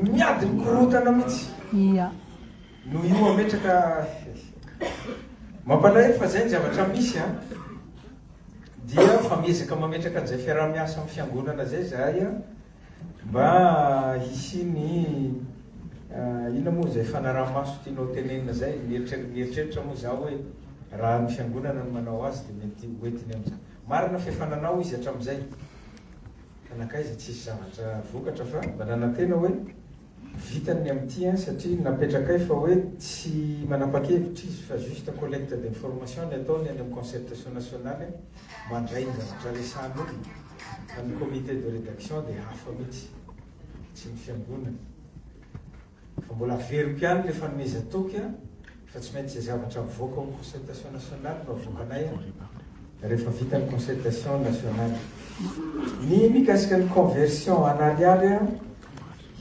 Miady mikorotana mitsy. Ia. No io ametraka. Mampalahelo fa zay ny zavatra misy an. Dia fa miezaka mametraka an'izay fiaraha-miasa amin'ny fiangonana zay zahay an. Mba hisian'ny inona moa zay fanaraha-maso tianao tenenina zay. Mieritreritra moa za hoe raha ny fiangonana no manao azy dia mety ho entiny amin'izany. Marina fa efa nanao izy hatramin'izay. Ka nankaiza tsisy zavatra vokatra fa mba nanantena hoe vitany ny amin'ity an, satria napetrakay fa hoe tsy manapakevitra izy fa juste collecte d'information ny ataony any amin'ny concertation nationale an, mandray ny zavatra resahan'olona fa ny comité de rédaction dia hafa mihitsy, tsy ny fiangonana. Efa mbola averiko ihany ilay fanomezan-toky an, fa tsy maintsy izay zavatra mivoaka ao amin'ny concertation nationale no avoakanay an, rehefa vita ny concertation nationale. Ny mikasika ny conversion en ariary an,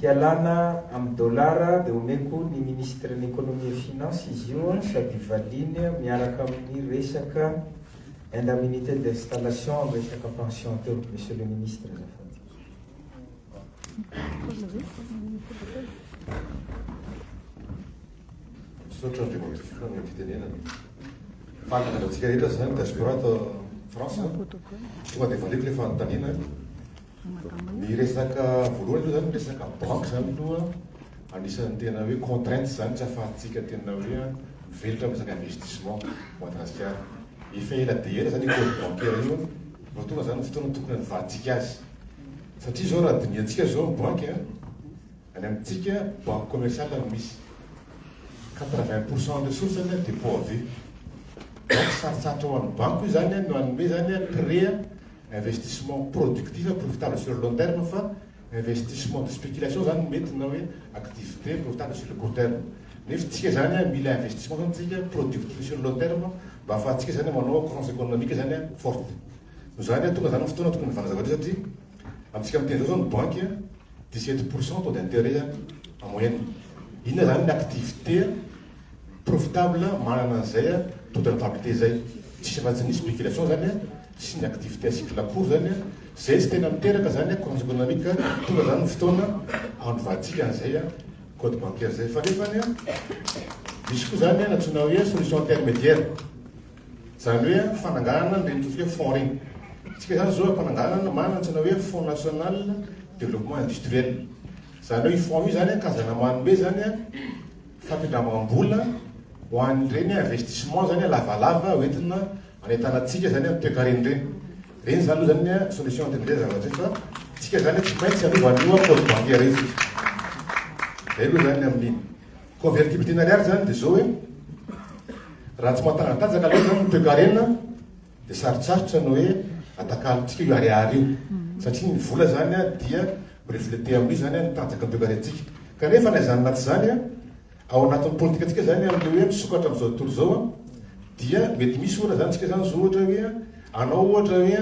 hialana amin'ny dollars dia omeko ny ministren'ny economie et finance izy io an, sady valiany miaraka amin'ny resaka indemnité d'installation amin'ny resaka pension teo, monsieur le ministre azafady. Misaotra Andriamatoa Filoha amin'ny fitenenana. Fantatry antsika rehetra izany ny diaspora ato France. Tonga dia valiako ilay fanontaniana. Ny resaka voalohany aloha izany ny resaka banque izany aloha anisan'ny tena hoe contrainte izany tsy ahafahantsika tena hoe mivelatra amin'ny resaka investissement Madagasikara. Efa ela dia ela izany école bancaire io. Vao tonga zany ny fotoana tokony hadivahantsika azy. Satria zao raha dinihantsika zao ny banky a, any amintsika banque commerciale no misy. Quatre vingt pour cent ny ressource-ny a dépôt à vue. Donc sarotsarotra ho an'ny banky io zany a no hanome zany a prêt a investissement productif a profitable sur le long terme fa investissement de spéculation zany no mety na hoe activité profitable sur le court terme nef tsika zany a mila investissement zany tsika productive sur long terme mba afahatsika zany manao croissance économique zany a forte no zany a tonga zany ny fotoana tokony hivana zavatra io satria amitsika miteny zao zao ny banque a dix sept pourcent taux d'intérêt a en moyenne inona zany ny activité Profitable manana an'izay a toute entente zay tsisy raha tsy nisy spéculation zany a sy ny activité à cycle court zany a zay tsy tena miteraka zany a croissance économique tonga zany ny fotoana anovantsika an'izay a code bancaire zay fa nefany a misy koa zany a nantsoina hoe solution intermédiaire zany hoe fananganana ny reny totsika fonds reny tsika zany zao ampananganana manana nantsoina hoe fonds national développement industriel zany hoe fonds io zany a kazana manome zany a Fandindramam-bola ho an'ireny investissement zany lavalava hoentina anentanantsika zany ny toekarena ireny. Ireny zany aloha zany ny solution anton'ny izay zavatra izay fa tsika zany tsy maintsy hanova an'io code bancaire io tsika. Zay aloha zany ny amin'iny. Convertible tena ariary zany dia zao hoe raha tsy mahatangatanjaka loatra zany ny toekarena, Dia sarotsarotra ny hoe atakalontsika io ariary io, satria ny vola izany dia mi-refleter amin'io izany ny tanjaky ny toekarentsika. Kanefa na izany na tsy izany, ao anatin'ny politikantsika izany amin'ilay hoe misokatra amin'izao tontolo izao dia mety misy ohatra izany tsika izany zao ohatra hoe hanao ohatra hoe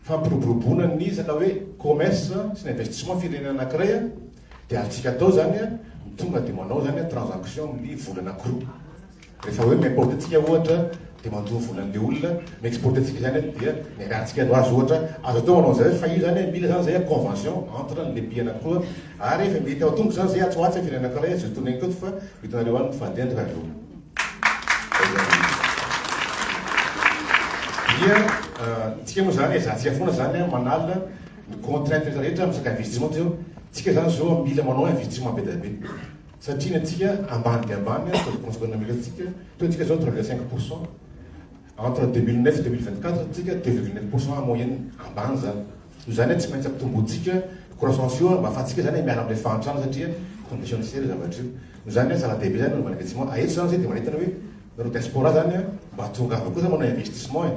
fampiroboroboana ny resaka hoe commerce sy ny investissement firenena anankiray dia azontsika atao izany ny tonga dia manao izany transaction amin'ny vola anankiroa. Rehefa hoe mi-importe antsika ohatra dia mandoa vola an'ilay olona mi-exporte antsika izany dia ny ariantsika no azo ohatra, azo atao manao an'izay hoe fa io izany hoe mila izany izay convention entre an'ilay pays anankiroa ary efa mety ao an-tongotra izany izay atsy ho atsy ny firenena anankiray azo tondraina koa fa vitanareo any ny fadin-dry zareo. Dia antsika moa izany ezahantsika foana izany manala ny contraintes rehetra amin'ny resaka investissement toy izao, antsika izany izao mila manao investissement be dia be. Satria ny antsika ambany dia ambany ary taux de consommation mille antsika teo antsika zao trois virgule cinq pour cent entre deux mille neuf et deux mille vingt quatre antsika deux virgule neuf pour cent en moyenne ambany zany noho zany tsy maintsy ampitombointsika croissance io mba afahantsika zany miala amle fahantrana satria condition ny sery zavatra io noho zany hoe zava dehibe zany managna tsy moa aeto zany zay de manentana hoe nareo diaspora zany mba tongava koa zany manao investissement e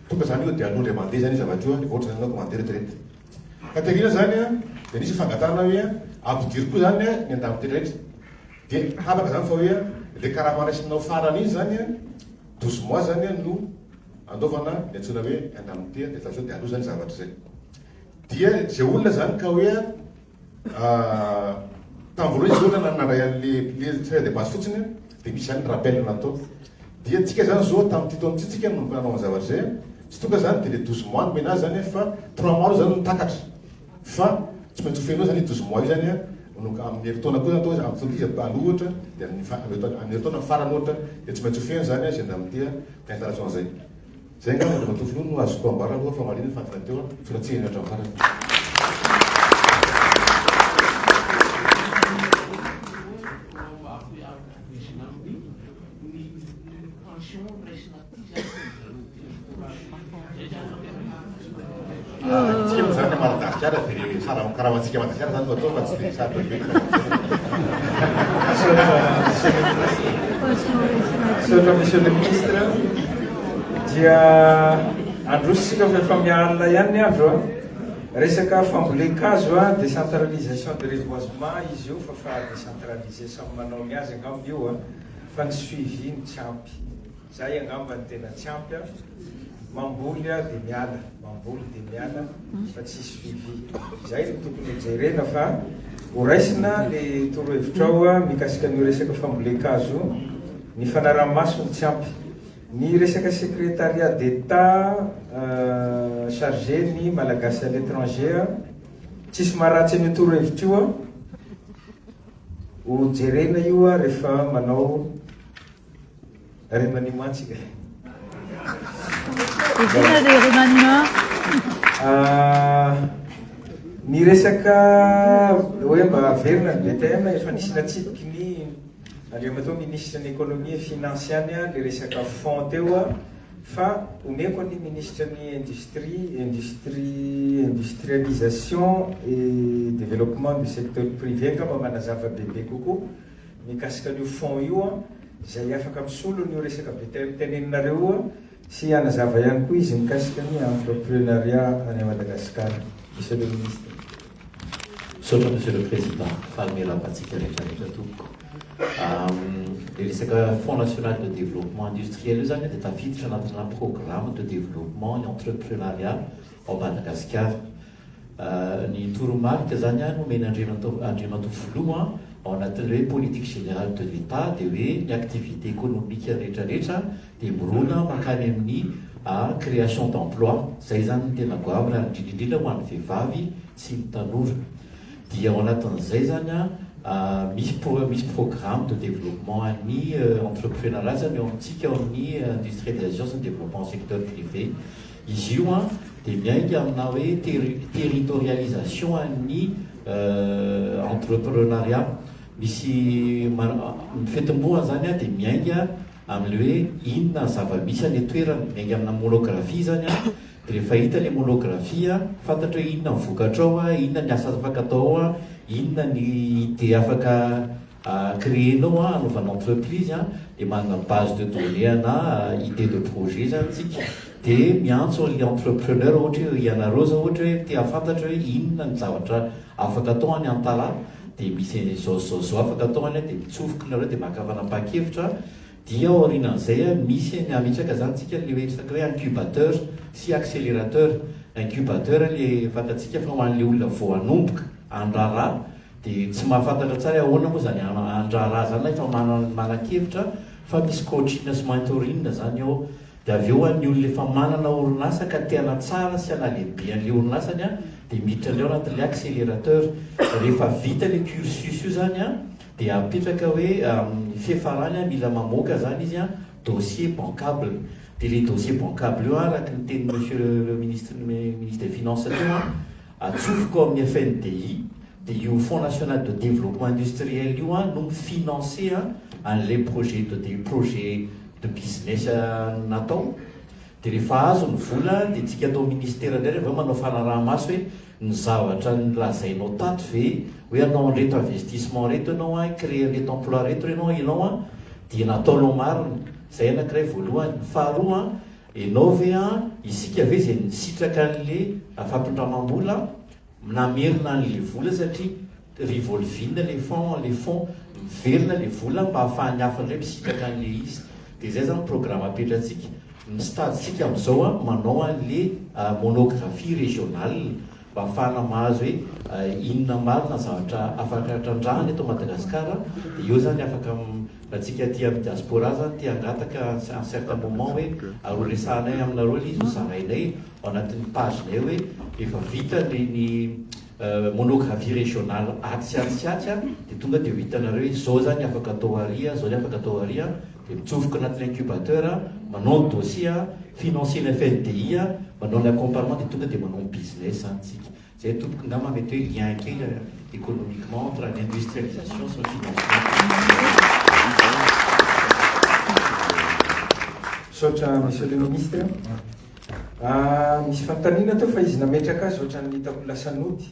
Tonga zany io de alou ndray mande zany io zavatra io a refa otrany anao ko mande retraite Katerina zany a de nisy fangatahana hoe ampidiro ko zany a ny andambo tena rehetra de habaka zany fa hoe a le karama raisinao farany iny zany a douze mois zany a no andoavana ny antsoina hoe indemnité refa sao de alou zany zavatra zay dia ze olona zany ka hoe a Tavy roa izy ohatra nandray an'le le tonga de basy fotsiny de misy zany rappel natao dia antsika zany zao tamin'ity taona ity tsika no nanao an'zany zavatra zay tsy tonga zany de le douze mois nomena azy zany fa trois mois aloha zany no takatra fa tsy maintsy ho feno zany io douze mois io zany a manao amin'ny herintaona koa atao hoe amin'ny iza aloha ohatra de amin'ny fa- amin'ny herintaona farany ohatra de tsy maintsy ho feno zany a zay ndramity a ka installation zay Zay angamba Andriamatoa Filoha no azoko ambara aloha fa marina ny fantina teo an, tsy ratsy henatra ny farany. Tsikemotra zany a Madagasikara de le sarahon karamantsika Madagasikara zany no atao fa tsy de sarotra be Misaotra Monsieur le Ministre dia andrositsika fa efa miha alina ihany ny andro a Resaka fambolen-kazo a décentralisation de reboisement izy io fa fa décentralisé samy manao ny azy angamba io a fa ny suivi no tsy ampy. Zay angamba no tena tsy ampy an! Mamboly aho dia miala, mamboly dia miala fa tsisy suivi. Zay no tokony ho jerena fa ho raisina le torohevitrao mikasika an'io resaka fambolen-kazo io, ny fanaraha-maso no tsy ampy. Ny resaka secretariat d'Etat chargé ny Malagasy à l'étranger an! Tsisy maharatsy an'io torohevitra io an! Ho jerena io rehefa manao Remaniement mantsy ka. Izina dia remaniement. Ny resaka hoe mba haverina ny BTM efa nisy natsipiky ny Andriamatoa Ministra ny Économie et Finance ihany le resaka fonds teo fa omeko ny Ministra ny Industrie, Industrie, Industrialisation et Développement du Secteur Privé angamba manazava bebe kokoa mikasika an'io fond io an, izay afaka misolo an'io resaka be te teneninareo io an, sy hanazava ihany koa izy mikasika ny entreprenariat any Madagascar. Monsieur le Ministre. Misaotra Monsieur le Président, faly miarahaba antsika rehetra rehetra tompoko. Le resaka fond national de développement industriel io zany dia tafiditra anatina programme de développement entreprenariat ao Madagasikara. Ny toromarika izany no omen'Andriamatoa Andriamatoa Filoha ao anatin'ilay hoe politique générale de l'Etat dia hoe ny activité économique rehetra rehetra dia mirona mankany amin'ny création d'emploi. Izay izany no tena goavana ary indrindra indrindra ho an'ny vehivavy sy ny tanora. Dia ao anatin'izay izany misy pro misy programme de développement an'ny entreprenariat izany ao amintsika ao amin'ny industrie de la gestion sy ny développement secteur privé. Izy io an dia miainga amina hoe territorialisation an'ny entreprenariat. Misy ny fetimbohany izany an dia miainga amin'ilay hoe inona zava-misy any an-toerana. Miainga amina monographie izany an, dia rehefa hita ilay monographie an, fantatra hoe inona ny vokatra ao an, inona ny asa afaka atao ao an, inona ny idée afaka a créer nao a anaovana entreprise a de manana base de données ana idée de projet zany tsika de miantso anle entrepreneur ohatra hoe ianareo zao ohatra hoe te hafantatra hoe inona ny zavatra afaka atao any antala de misy anle zao sy zao zao afaka atao any de mitsofoka nareo de maka fanapahan-kevitra dia aorianan'izay a misy any ametraka zany tsika le hoe resaka hoe incubateur sy accélérateur incubateur le fantatsika fa ho anle olona vao hanomboka handrara Dia tsy mahafantatra tsara hoe ahoana moa izany handraharaha izany ilay fa manan-kevitra fa misy coaching sy mentoring izany ao. Dia avy eo ho an'ny olona efa manana orinasa ka te hanatsara sy hanalehibe an'ilay orinasany dia miditra indray ao anatin'ilay accélérateur. Rehefa vita ilay cursus io izany dia apetraka hoe amin'ny fiafarany mila mamoaka izany izy dossier bancable. Dia ilay dossier bancable io araka ny tenin'ny monsieur le ministre, ministre des finances teo, Atsofoko ao amin'ny FNDI dia io Fonds National de Développement Industriel io an no mi-financer an an'ilay projet de de projet de business natao. Dia rehefa azo ny vola an dia tsika ato Ministera indray avy eo manao fanaraha-maso hoe ny zavatra nolazainao tato ve hoe hanao an'ireto investissement ireto ianao an, hi-creer an'ireto emploi ireto ianao an dia nataonao marina. Izay anankiray voalohany. Ny faharoa an, Enao ve an, isika ve izay misitraka anle fampindramambola namerina anle vola satria revolving le fond an, le fond miverina le vola mba afahan'ny hafa indray misitraka anle izy de zay zany programa apetratsika ny stade tsika amzao an manao anle monographie regionale mba hahafahana mahazo hoe inona marina ny zavatra afaka trandrahana eto Madagasikara dia eo izany afaka raha antsika aty amin'ny diaspora izany te hangataka à un certain moment hoe aroa resahanay aminareo ilay izy ho zarainay ao anatin'ny page nay hoe rehefa vita ny ny monographie régionale atsy sy atsy sy atsy dia tonga dia ho hitanareo hoe izao izany afaka atao ary izao ny afaka atao ary dia mitsofoka anatin'ny incubateur, manao ny dossier financier ny FNDI, manao ny accompagnement dia tonga dia manao ny business any tsika. Zay tompoko ngamba mety hoe lien kely économiquement entre ny industrialisation sy ny financement. Misaotra Monsieur le Ministre. Misy fanontaniana teo fa izy nametraka azy ohatran'ny hitako lasa nody.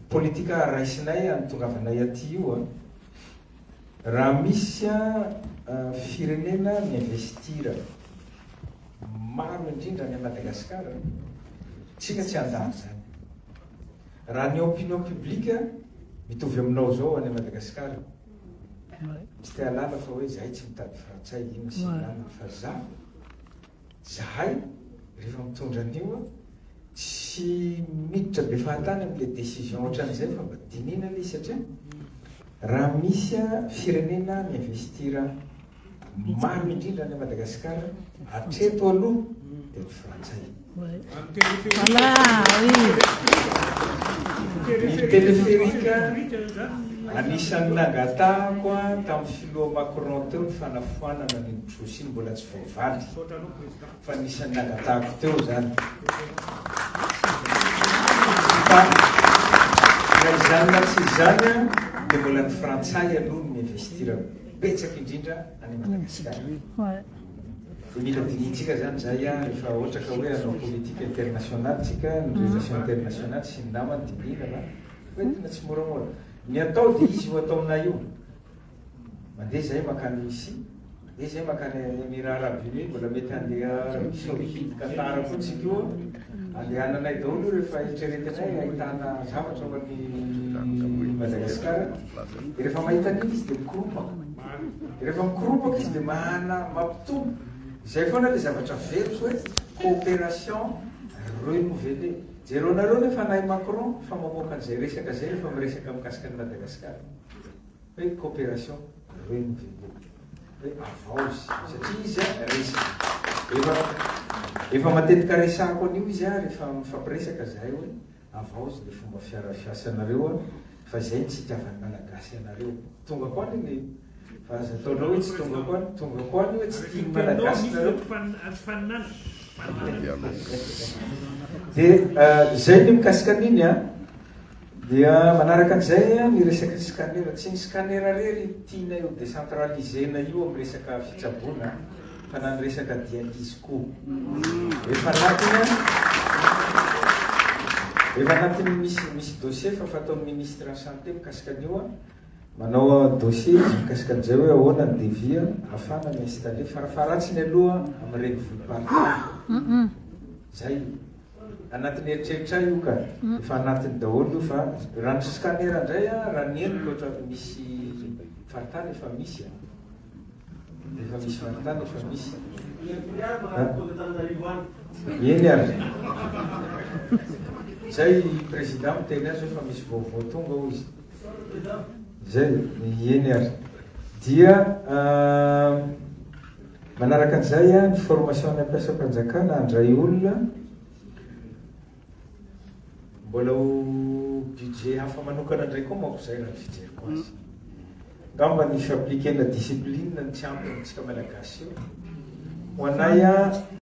Politika raisinay anitongavanay aty io an! Raha misy an firenena mi-investir maro indrindra any Madagascar an! Tsika tsy handany zany! Raha ny opinion public mitovy aminao zao any Madagascar tsy te-halala fa hoe zahay tsy mitady frantsay ino sy inona fa za Zahay rehefa mitondra an'io a, tsy miditra be fahatany amin'ilay décision ohatran'izay fa mba dinihina ilay izy satria raha misy a firenena mi-investir maro indrindra any Madagasikara hatreto aloha dia ny frantsay. Ny téléphérique anisan'ny nangatahako a tamin'ny filoha Macron teo ny fanafoanana an'iny trosse iny mbola tsy vao Valy. Misaotra anao Président fa anisan'ny nangatahako teo izany. Fa na izany na tsy izany dia mbola ny Frantsay aloha no mi-investir betsaka indrindra any Madagasikara. Dia mila dinihintsika izany izay rehefa ohatra ka hoe hanao politique internationale tsika, ny relations internationales sy ny namany dinihina fa ho entina tsimoramora. Ny atao dia izy io ataonay io. Mandeha izahay mankany Russie, mandeha izahay mankany Emirats Arabes Unis, mbola mety handeha Arabie Saoudite, Qatar koa tsy loha. Andehananay daholo io rehefa eritreretinay ahitana zavatra ao an'i Madagascar. Dia rehefa mahita an'iny izy dia mikoropaka. Dia rehefa mikoropaka izy dia mahana, mampitombo. Izay foana ilay zavatra averiko hoe coopération renouvelée. Jereo anareo ny fanahy Macron fa mamoaka an'izay resaka izay rehefa miresaka mikasika an'i Madagascar. hoe cooperation reny reny hoe avaozy satria izy a resaka efa efa matetika resahako an'io izy a rehefa mifampiresaka zahay hoe avaozy le fomba fiara fiasanareo a fa zay ny tsy itiavan'ny malagasy anareo tonga ko any le fa aza ataonao hoe tsy tonga ko any tonga ko any hoe tsy tian'ny malagasy nareo dia zay ny mikasika an'iny a Dia manaraka an'izay ny resaka ny scanner. Tsy ny scanner irery tianay ho décentralisé-na io amin'ny resaka fitsaboana fa na ny resaka dialyse koa. Efa anatiny efa anatiny misy misy dossier fa fataon'ny ministre ny santé mikasika an'io manao dossier mikasika an'izay hoe ahoana ny devis afana ny installer farafaharatsiny aloha amin'ny renivohi-paritany. Zay. Anatin'ny eritreritray io ka. Efa anatiny daholo io fa raha ny scanner indray a, raha ny henoko ohatran'ny misy faritany efa misy a. Efa misy faritany efa misy. Eny ary. Zay i Président miteny azy hoe fa misy vaovao tonga hoy izy. Zay, eny ary. Dia. Manaraka an'izay, ny formasionan'ny mpiasam-panjakana handray olona mbola ho budget hafa manokana indray koa manko izay raha ny fijeriko azy. Angamba ny fi-appliquer-na discipline no tsy ampy amintsika Malagasy eo. Ho anay,